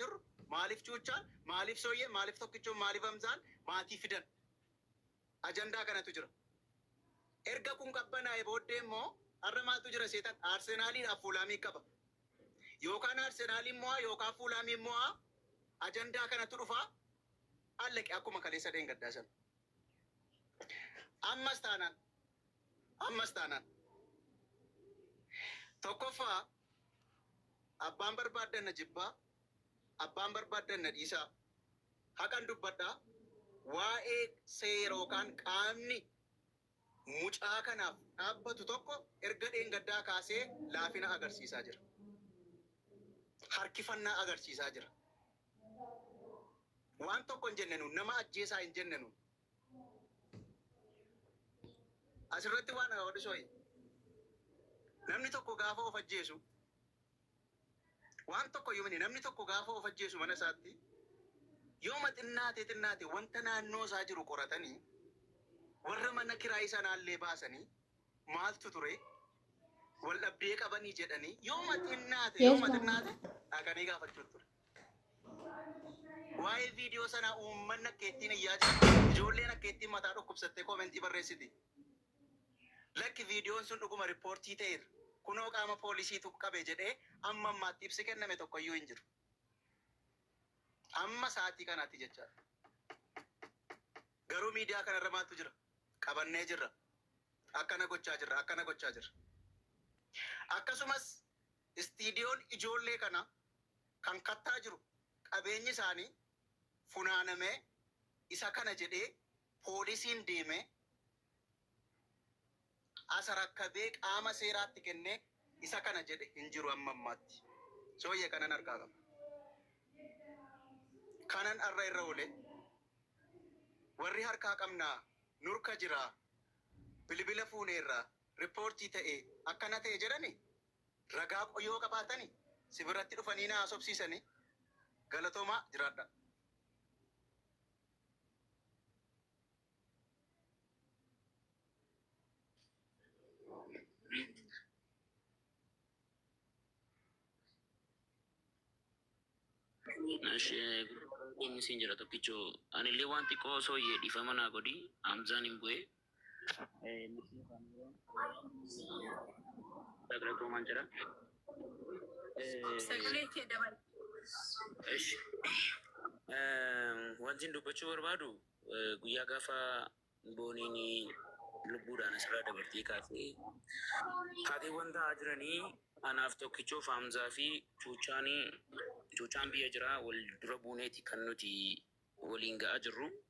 jirru maaliif cuuchaan maaliif sooyyeen maaliif tokkichoon maaliif hamzaan maatii fidan ajandaa kanatu jira. Erga kun qabbanaa'e booddee immoo har'a maaltu jira seetan Arsenaaliidhaaf Fuulaamii qaba. Yookaan Arsenaaliin mo'aa yookaan Fuulaamiin mo'aa ajandaa kanatu dhufa allaqe akkuma kaleessa dheengaddaa sana. Ammas taanaan ammas taanaan tokkoffaa Abbaan barbaaddan na jibbaa, abbaan barbaaddan na dhiisaa. Haqan dubbadha, waa'ee seera yookaan qaamni mucaa kanaaf dhaabbatu tokko erga dheengaddaa kaasee laafina agarsiisaa jira. Harkifannaa agarsiisaa jira. Waan tokko hin jenne nuun, nama ajjeesaa hin jenne nuun. Asirratti waan hawa dhusooyi. Namni tokko gaafa of ajjeesu waan tokko yomini namni tokko gaafa of ajjeesu mana isaatti yooma xinnaate xinnaate wanta naannoo isaa jiru qoratanii warra mana kiraayii sanaallee baasanii maaltu ture wal dhabdee qabanii jedhanii yooma xinnaate yooma xinnaate dhaqanii gaafachuutu ture. Waa'ee viidiyoo sanaa uummanni akka ittiin iyyaa jira. Ijoolleen akka ittiin mataa dhukkubsattee koomentii barreessiti. Lakki viidiyoon sun dhuguma rippoortii ta'eera. Kunoo qaama poolisiitu qabe jedhee amma ammaatti ibsi kenname tokkoyyuu hin jiru. Amma sa'aatii kanaatti jechaadha. Garuu miidiyaa kanarra maaltu jira? Qabannee jirra. Akkana gochaa jirra. Akkana gochaa jirra. Akkasumas istiidiyoon ijoollee kana kan kattaa jiru qabeenyi isaanii funaanamee isa kana jedhee poolisiin deemee as rakkabee qaama seeraatti kennee isa kana jedhe hin jiru amma ammaatti. Sooyyee kanan harkaa qaba. Kanan har'a irra oole warri harkaa qabnaa nurka jiraa bilibila fuuneerraa rippoortii ta'ee akkana ta'e jedhani Ragaa qo yoo qabaatani si biratti dhufanii na haasofsiisani galatomaa jiraadhaa. Ishee siin jira tokkicho anillee waan xiqqoo osoo yee dhiifama naa godhi Hamzaan hin bu'ee. Galatoomaan jira. Sagalee kee dabali. Ishi. Wanti dubbachuu barbaadu eh, guyyaa gaafa booniin lubbuudhaan asirraa dabartee kaatee taateewwan ta'aa jiranii anaaf tokkichoof Hamzaa fi Cuuchaan Cuuchaan biyya jiraa wal dura buuneeti kan nuti waliin ga'aa jirru.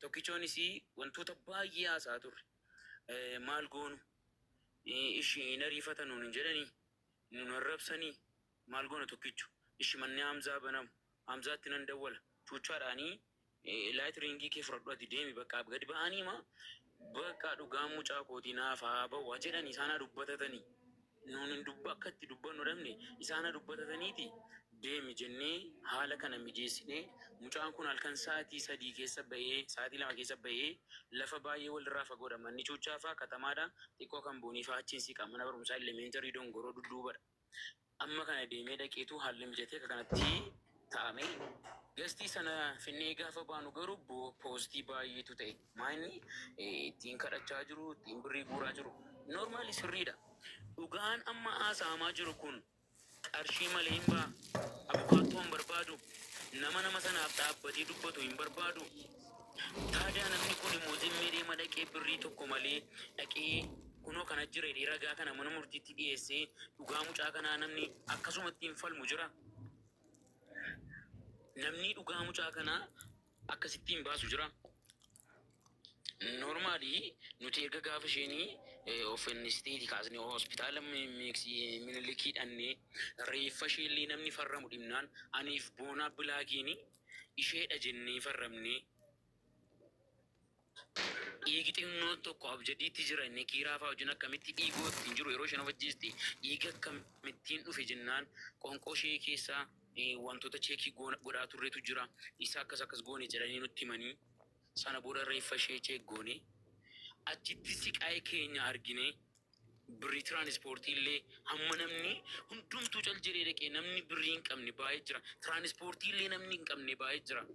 Tokkichoonis wantoota baay'ee haasa'aa turre. Maal goonu? Ishi hin ariifatan nuun hin jedhanii? Nuun arrabsanii? Maal goona tokkicho? Ishi manni Hamzaa banamu. Hamzaatti nan dawwala. Chuuchaadhaanii laayit riingii kee fudhadhu ati deemi bakka gadi ba'anii ma bakka dhugaan mucaa kootii naaf haa ba'u jedhani isaan haa dubbatatanii. Nuun akka itti dubbannu dhabne isaan haa dubbatataniitii deemi jennee haala kana mijeessinee mucaan kun halkan sa'atii sadii keessa ba'ee sa'atii lama keessa ba'ee lafa baay'ee walirraa fagoodha manni Chuuchaa faa katamaadha xiqqoo kan Boonii faa achiin siqa mana barumsaa Elementary Dongoroo dudduubadha amma kana deemee dhaqeetu haalli mijatee akka kanatti taame Gastii sana finnee gaafa baanu garuu poostii baay'eetu ta'e maayinni ittiin kadhachaa jiru ittiin birrii guuraa jiru noormaali sirriidha dhugaan amma haasa'amaa jiru kun qarshii malee hin ba'a abukaattoo hin barbaadu nama nama sanaaf dhaabbatee dubbatu hin barbaadu taadaa namni kun immoo zimmee deema dhaqee birrii tokko malee dhaqee kunoo kana jira jedhee ragaa kana mana murtiitti dhiyeessee dhugaa mucaa kanaa namni akkasumatti hin falmu jira. Namnii dhugaa mucaa kanaa akkasittii hin baasu jiraa? Normally nuti erga gaafa isheen of fannistee kaasnee hospitaala minilikii dhannee reeffa ishee illee namni farramu dhibnaan aniif boonaa bilaakiin isheedha jennee farramnee Dhiigi xinnoon tokko abjadiitti jira inni kiiraa faa wajjin akkamitti dhiigoo ittiin jiru yeroo isheen of ajjeesti dhiigi akkamittiin dhufe jennaan qonqoo ishee keessa wantoota cheekii godhaa turretu jira isa akkas akkas goone jedhanii nutti himanii sana booda reeffa ishee cheek goone achitti siqaa'ee keenya argine birrii tiraanispoortii illee hamma namni hundumtuu cal jedhee dhaqee namni birrii hin qabne baay'ee jira tiraanispoortii illee namni hin qabne baay'ee jira.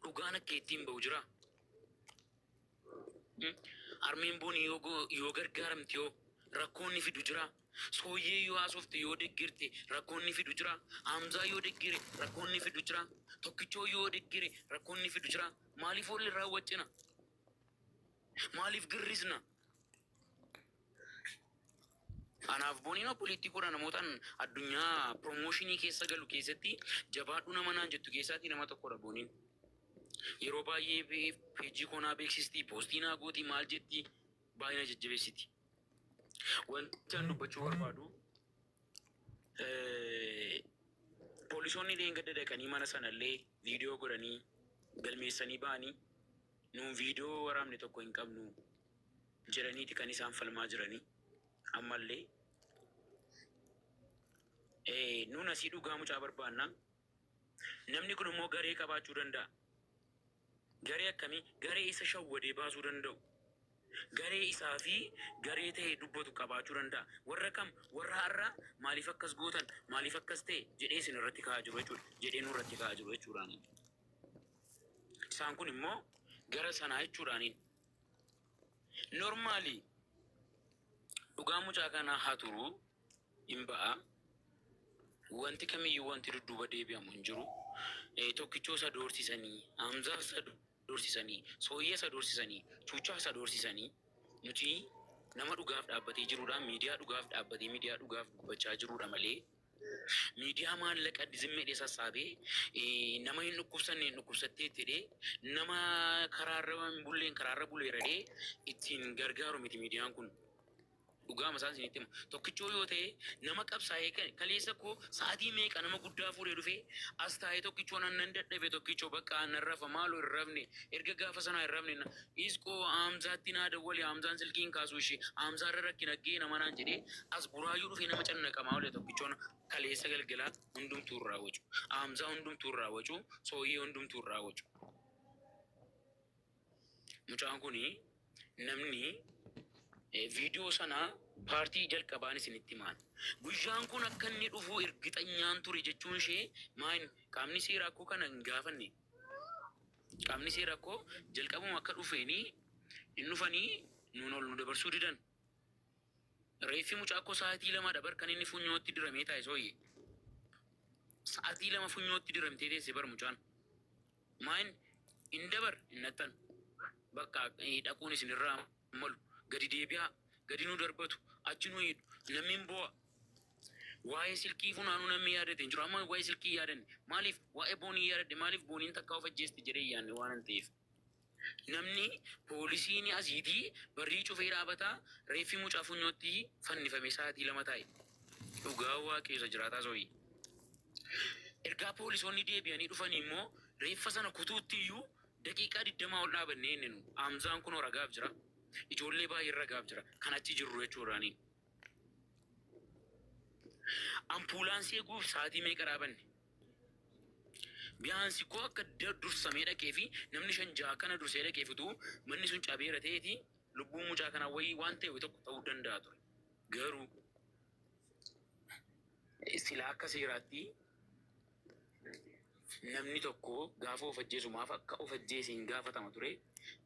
Dhugaan akka ittiin ba'u jira. Harmeen booni yoo gargaaramte yoo rakkoon ni fidu jira. Sooyyee yoo haasofte yoo deggerte rakkoon ni fidu jira. Hamzaa yoo deggere rakkoon ni fidu jira. Tokkichoo yoo deggere rakkoon ni fidu jira. Maaliif wal irraa waccina? Maaliif girrisna? Anaaf Boniin obboleettii koodha namootan addunyaa promotion keessa galu keessatti jabaadhu nama naan jettu keessaatii nama tokkodha Boniin. Yeroo baay'ee page koo naa beeksisti, poostii naa gooti, maal jetti baay'ee na jajjabeessiti. Wanti an dubbachuu barbaadu poolisoonni illee gadda dhaqanii mana sanallee viidiyoo godhanii galmeessanii ba'anii Nuun viidiyoo waraabne tokko hin qabnu jedhaniiti kan isaan falmaa jiranii ammallee. Nuun asii dhugaa mucaa barbaanna. Namni kun immoo garee qabaachuu danda'a. Garee akkamii? Garee isa shawwadee baasuu danda'u. Garee isaa fi garee ta'ee dubbatu qabaachuu danda'a. Warra kam? Warra har'a maaliif akkas gootan? Maaliif akkas ta'e? jedhee isin irratti ka'aa jiru jechuudha. Jedhee nu irratti ka'aa jiru jechuudha. Isaan kun immoo gara sanaa jechuudhaaniin. Normaalii dhugaa mucaa kanaa haa turuu hin ba'a. Wanti kamiyyuu wanti dudduuba deebi'amu hin jiru. Eh, Tokkichoo isa doorsisanii, Hamzaa isa doorsisanii, Sooyya isa doorsisanii, Chuuchaa isa doorsisanii. Nuti nama dhugaaf dhaabbatee jirudha. Miidiyaa dhugaaf dhaabbatee miidiyaa dhugaaf dubbachaa jirudha malee. Miidiyaa maallaqa zim jedhee sassaabee nama hin dhukkubsanne hin dhukkubsattee itti jedhee nama karaarra hin bulleen karaarra buleera jedhee ittiin gargaaru miti miidiyaan kun. Dhugaama isaan isinitti hima. Tokkichoo yoo ta'e nama qabsaa'ee kan kaleessa koo sa'aatii meeqa nama guddaa fuudhee dhufee as taa'ee tokkichoo nan nan dadhabe tokkichoo bakka narrafa maaloo hin rafne erga gaafa sanaa hin rafne na- Is koo Haamzaatti naa dawwali Haamzaan silkii hin kaasu ishi Haamzaa irra rakkina ga'e nama naan jedhee as buraayyuu dhufee nama cannaqamaa oole tokkichoon kaleessa galgala hundumtuu irraa wacu Haamzaa hundumtuu irraa wacu sooyyee hundumtuu irraa wacu mucaan kuni namni eh, viidiyoo sana paartii jalqabaan isinitti himaan guyyaan kun akka inni dhufuu ergixanyaan ture jechuun ishee maayin qaamni seeraa akkoo kana hin gaafanne Qabnisee rakkoo jalqabuma akka dhufeeni hin dhufani nuun ol nu dabarsuu didan. Reeffi mucaa koo sa'atii lamadha bar kan inni funyootti diramee taa'e sooyye. Sa'atii lama funyootti diramtee teesse bar mucaan. Maayin hin dabar hin nattan. Bakka dhaquun isinirraa. malu gadi deebi'aa gadi nu darbatu achi nu hidhu namni hin boo'a waa'ee silkii funaanuu namni yaadate hin jiru amma waa'ee silkii yaadanne maaliif waa'ee boonii yaadadhe maaliif booniin takkaa of ajjeeste jedhee yaanne waan hin ta'eef namni poolisiin asiitii barrii cufee dhaabataa reeffi mucaa funyootti fannifame sa'aatii lama taa'e dhugaa waaqeessa jiraataa soorii. Ergaa poolisoonni deebi'anii dhufanii immoo reeffa sana kutuutti iyyuu Daqiiqaa digdamaa ol dhaabannee inni nu, Hamzaan kunoo ragaaf jira, ijoollee baay'een ragaaf jira, kan achi jirru jechuu irraanii. Ampuulaansii eguuf sa'aatii meeqa dhaabanne? Biyaansi koo akka da- dursamee dhaqee fi namni shan ja'a kana dursee dhaqee fituu manni sun cabeera ta'eeti lubbuun mucaa kanaa wayii waan ta'e tokko ta'uu danda'a ture. Garuu silaa akka seeraatti Namni tokko gaafa of ajjeesu maaf akka of ajjeese hin gaafatama ture.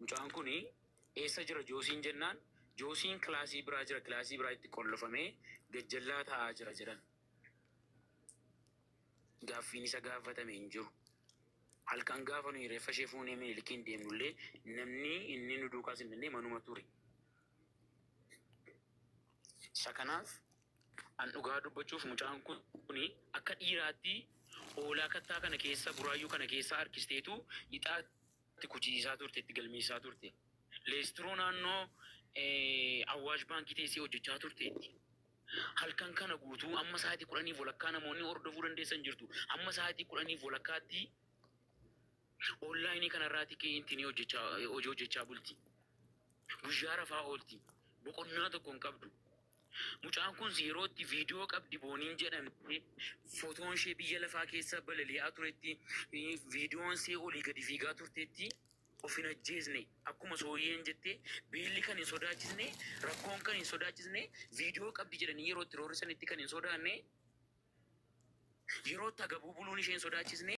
Mucaan kun eessa jira Joosiin jennaan Joosiin kilaasii biraa jira kilaasii biraa itti qollofamee gajjallaa taa'aa jira jedhan. Gaaffiin isa gaafatame hin jiru. Halkan gaafa nuyi reeffa ishee fuunee Minilikiin deemnullee namni inni nu duukaa simbinne manuma ture. Isa kanaaf An dhugaa dubbachuuf mucaan kuni akka dhiiraatti hoolaa kattaa kana keessa buraayyuu kana keessaa harkisteetu ixaa itti kuchisiisaa turte itti galmeessisaa turte. Leestiroo naannoo eh, Awwaash baankii teessee hojjechaa turteetti. Halkan kana guutuu amma sa'aatii kudhaniif walakkaa namoonni hordofuu dandeessan jirtu. Amma sa'aatii kudhaniif walakkaatti onlaayinii kanarraati kee intinii hojjechaa hojii hojjechaa bulti. Guyyaa rafaa oolti. Boqonnaa tokko hin qabdu. Mucaan kun yeroo itti viidiyoo qabdi booniin jedhamte fotoon ishee biyya lafaa keessa balali'aa turetti viidiyoon ishee olii gadi fiigaa turtetti of hin ajjeesne akkuma sooyyeen jette beelli kan hin sodaachisne rakkoon kan hin sodaachisne viidiyoo qabdi jedhanii yeroo itti roorrisanitti kan hin sodaanne yeroo itti agabuu buluun ishee hin sodaachisne